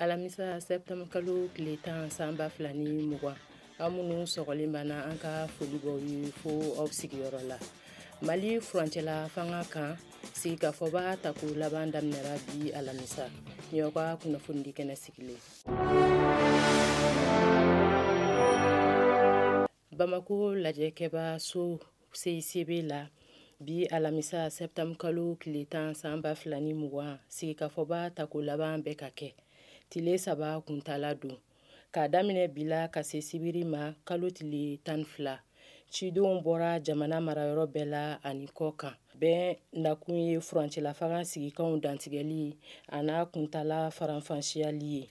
alamisa sɛptanburu kalo tile tan san ba fila ni mugan an minnu sɔgɔlen banna an ka foli b'aw ye fo aw sigiyɔrɔ la mali furancɛla fanga kan sigikafɔba tako laban daminɛra bi alamisa nin y'aw ka kunnafonidi kɛnɛ sigilen bamako lajɛkɛba so CICB la bi alamisa sɛptanburu kalo tile tan san ba fila ni mugan sigikafɔba tako laban bɛ ka kɛ tile saba kuntala don k'a daminɛ bi la ka se sibiri ma kalo tile tan ni fila cidenw bɔra jamana marayɔrɔ bɛɛ la ani kɔkan bɛɛ nakun ye furancɛla fanga sigikanw dantigɛli a n'a kuntala faranfasiyali ye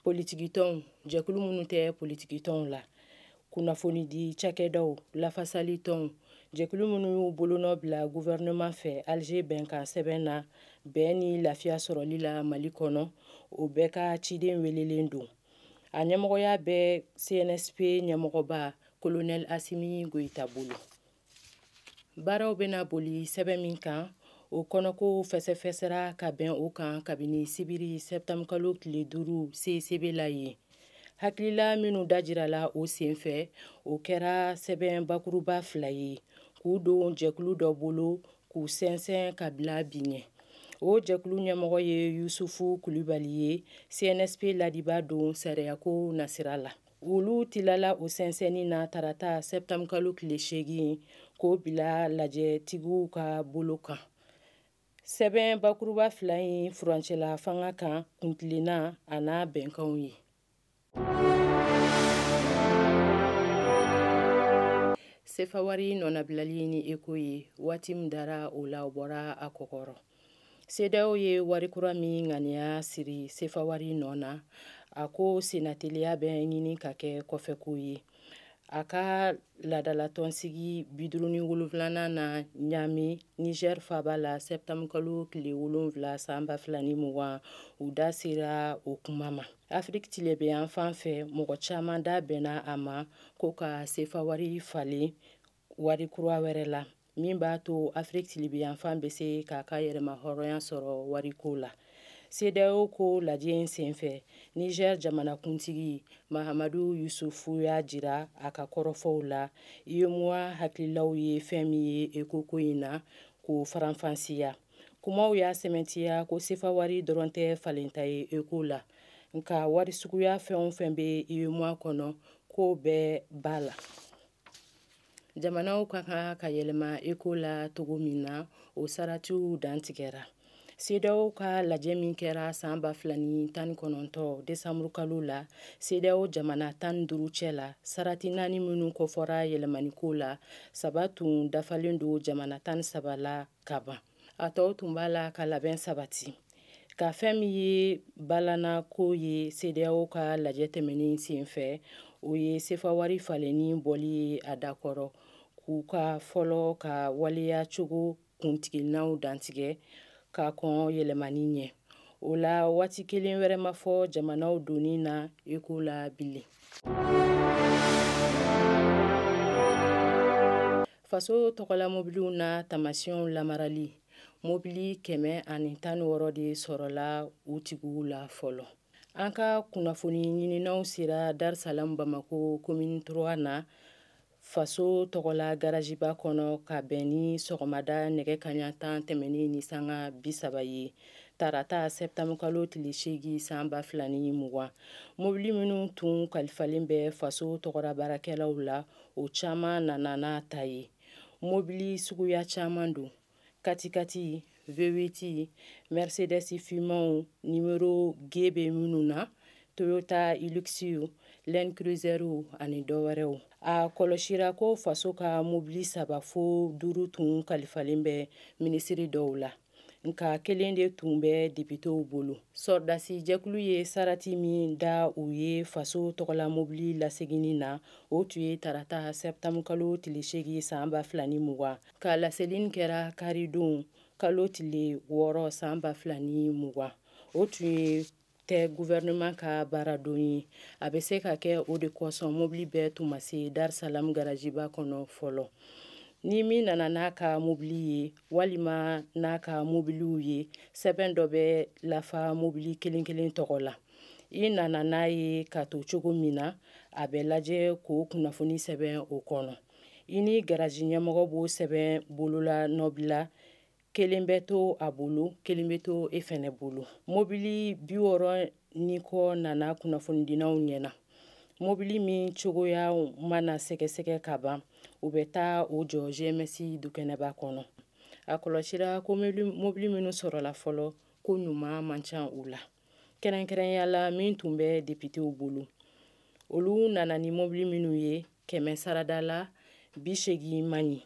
politikitɔnw jɛkulu minnu tɛ politikitɔnw la kunnafonidi cakɛdaw lafasali tɔnw jɛkulu minnu y'u bolonɔ bila guvɛrɛnɛman fɛ alize bɛnkan sɛbɛn na bɛn ni lafiya sɔrɔli la mali kɔnɔ o bɛɛ ka ciden welelen don a ɲɛmɔgɔya bɛ cnsp ɲɛmɔgɔba kolonɛl asimi goyita bolo baaraw bɛna boli sɛbɛn min kan o kɔnɔko fɛsɛfɛsɛra ka bɛn o kan kabini sibiri sɛptanburukalo tile duuru CICB la yen hakilila minnu dajirala o senfɛ o kɛra sɛbɛn bakuruba fila ye k'u don jɛkulu dɔ bolo k'u sɛnsɛn ka bila bi ɲɛ o jɛkulu ɲɛmɔgɔ ye yusufu kulibali ye cnsp laadibaa don sariyako nasira la olu tilala o sɛnsɛnni na tarata sɛptanburu kalo tile seegin k'o bila lajɛtigiw ka bolo kan sɛbɛn bakuruba fila in furancɛla fanga kan kuntilenna a n'a bɛnkanw ye sefawari nɔnabilali ni eko ye waati min dara o la o bɔra a kɔkɔrɔ CEDEAO ye wari kura min ŋaniya siri sefawari nɔ na a ko sennateliya bɛ ɲini ka kɛ kɔfɛko ye a ka laadalatɔnsigi biduruni wolonfilanan na ɲamɛ niger faba la sɛptanburukalo tile wolonfila san ba fila ni mugan u da sera o kuma ma afiriki tilebinyan fan fɛ mɔgɔ caman da bɛnna a ma ko ka sefawari falen wari kura wɛrɛ la min b'a to afiriki tilebinyanfan bɛ se k'a ka yɛrɛma hɔrɔnya sɔrɔ wariko la CEDEAO ko lajɛ in senfɛ Niger jamanakuntigi Mahamadou Yusufu y'a jira a ka kɔrɔfɔw la UEMOA hakililaw ye fɛn min ye eko ko in na k'o faranfasiya. Kumaw y'a sɛmɛntiya ko sefawari dɔrɔn tɛ falenta ye eko la, nka wari suguya fɛn o fɛn bɛ UEMOA kɔnɔ k'o bɛɛ b'a la. jamanaw ka kan ka yɛlɛma eko la cogo min na o saratiw dantigɛra sedeyaw ka lajɛ min kɛra san ba fila ni tan ni kɔnɔntɔ desanburukalo la sedeyaw jamana tan ni duuru cɛ la sarati naani minnu kofɔra yɛlɛmaniko la saba tun dafalen don jamana tan ni saba la ka ban a tɔw tun b'a la ka labɛn sabati ka fɛn min ye balana ko ye sedeyaw ka lajɛ tɛmɛnen sen fɛ o ye sefawari falenni bɔli ye a dakɔrɔ k'u ka fɔlɔ ka waleya cogo kuntilennaw dantigɛ ka kɔn yɛlɛmani ɲɛ o la waati kelen wɛrɛ ma fɔ jamanaw donni na eko la bilen faso tɔgɔla mobiliw n'a taamasiyɛnw lamarali mobili kɛmɛ ani tan ni wɔɔrɔ de sɔrɔla u tigiw la fɔlɔ an ka kunnafoni ɲininaw sera darisalaam bamako komini trois na faso tɔgɔla garaziba kɔnɔ ka bɛn ni sɔgɔmada nɛgɛ kaɲa tan tɛmɛnen ni sanga bisaba ye tarata sɛtanburukalo tile seegin san ba fila ni mugan mobili minnu tun kalifalen bɛ faso tɔgɔra baarakɛlaw la o caman nana n'a ta ye mobili suguya caman don katikati vewiti mercedes fimanw nimero g bɛ minnu na toyota hiluxw land cruiserw ani dɔwɛrɛw a kɔlɔsira ko faso ka mobili saba fo duuru tun kalifalen bɛ minisiri dɔw la nka kelen de tun bɛ depitew bolo sɔrɔdasi jɛkulu ye sarati min da u ye faso tɔgɔla mobili laseginni na o tun ye tarata sɛtanburukalo tile seegin san ba fila ni mugan ka laselini kɛra karidon kalo tile wɔɔrɔ san ba fila ni mugan o tun ye tɛ guvɛrɛnɛman ka baaradon ye a bɛ se ka kɛ o de kosɔn mobili bɛɛ tun ma se darisalaam garaziba kɔnɔ fɔlɔ ni min nana n'a ka mobili ye walima n'a ka mobiliw ye sɛbɛn dɔ bɛ lafa mobili kelen kelen tɔgɔ la i nana n'a ye k'a to cogo min na a bɛ lajɛ k'o kunnafoni sɛbɛn o kɔnɔ i ni garazi ɲɛmɔgɔ b'o sɛbɛn bololanɔ bila kelen bɛ to a bolo kelen bɛ to e fɛnɛ bolo mobili bi wɔɔrɔ ni kɔ nana kunnafonidinaw ɲɛna mobili min cogoya mana sɛgɛsɛgɛ ka ban u bɛ taa o jɔ gms dukɛnɛba kɔnɔ a kɔlɔsira ko mobili minnu sɔrɔla fɔlɔ ko ɲuman man ca u la kɛrɛnkɛrɛnya la min tun bɛ depitew bolo olu nana ni mobili minnu ye kɛmɛ sarada la bi seegin man ɲi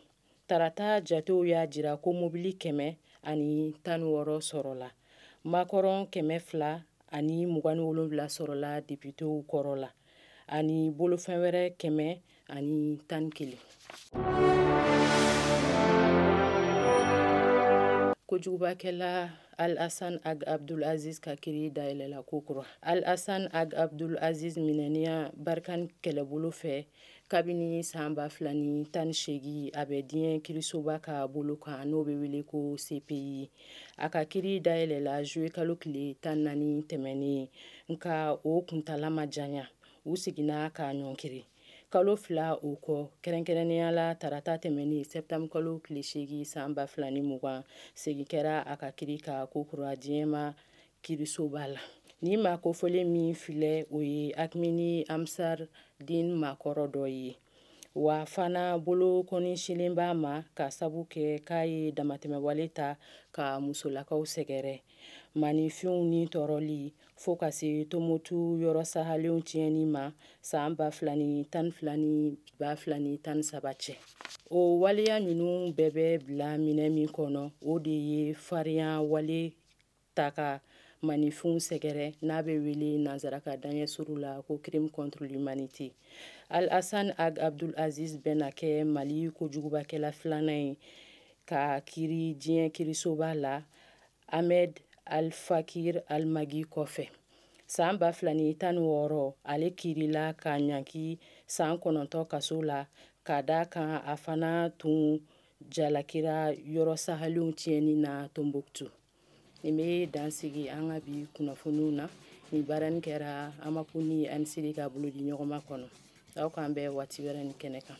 tarata jatew y'a jira ko mobili kɛmɛ ani tan ni wɔɔrɔ sɔrɔla makɔrɔn kɛmɛ fila ani mugan ni wolonwula sɔrɔla depitew kɔrɔ la ani bolofɛn wɛrɛ kɛmɛ ani tan ni kelen kojugubakɛla al asan ag abdul aziz ka kiri dayɛlɛla ko kura al asan ag abdul aziz minɛniya barikani kɛlɛbolo fɛ kabini saan ba fila ni tan ni seegin a bɛ diɲɛ kirisoba ka bolo kan n'o bɛ wele ko cpi a ka kiri dayɛlɛla zuluye kalo tile tan naani tɛmɛnen nka o kuntala ma janya u seginna k'a ɲɔnkiri kalo fila o kɔ kɛrɛnkɛrɛnnenya la tarata tɛmɛnen sɛptanburu kalo tile seegin saan ba fila ni mugan segin kɛra a ka kiri kan ko kura diɲɛma kirisoba la nin maa kofɔlen min filɛ o ye akmi ni ansar din maakɔrɔ dɔ ye wa fana bolokɔni sinnen b'a ma k'a sabu kɛ k'a ye damatɛmɛwale ta ka musolakaw sɛgɛrɛ maaninfinw nitɔɔrɔli fo ka se tomotu yɔrɔ sahalenw tiɲɛni ma saan ba fila ni tan fila ni ba fila ni tan saba cɛ o waleya ninnu bɛɛ bɛ bila minɛn min kɔnɔ o de ye farinya wale ta ka maaninfinw sɛgɛrɛ n'a bɛ wele nansarakan daɲɛ suru la ko crime contre l'humanité al hassan ag abdul aziz bɛna kɛ mali kojugubakɛla filanan ye ka kiri diɲɛ kirisoba la ahmed al faqi al mahdi kɔfɛ saan ba fila ni tan ni wɔɔrɔ ale kirila ka ɲangi saan kɔnɔntɔn kaso la ka d'a kan a fana tun jalakira yɔrɔ sahalenw tiɲɛni na tombouctou nin bɛ dan sigi an ka bi kunnafoniw na nin baaranin kɛra amapu ni anisiri ka bolodiɲɔgɔnma kɔnɔ aw k'an bɛn waati wɛrɛ nin kɛnɛ kan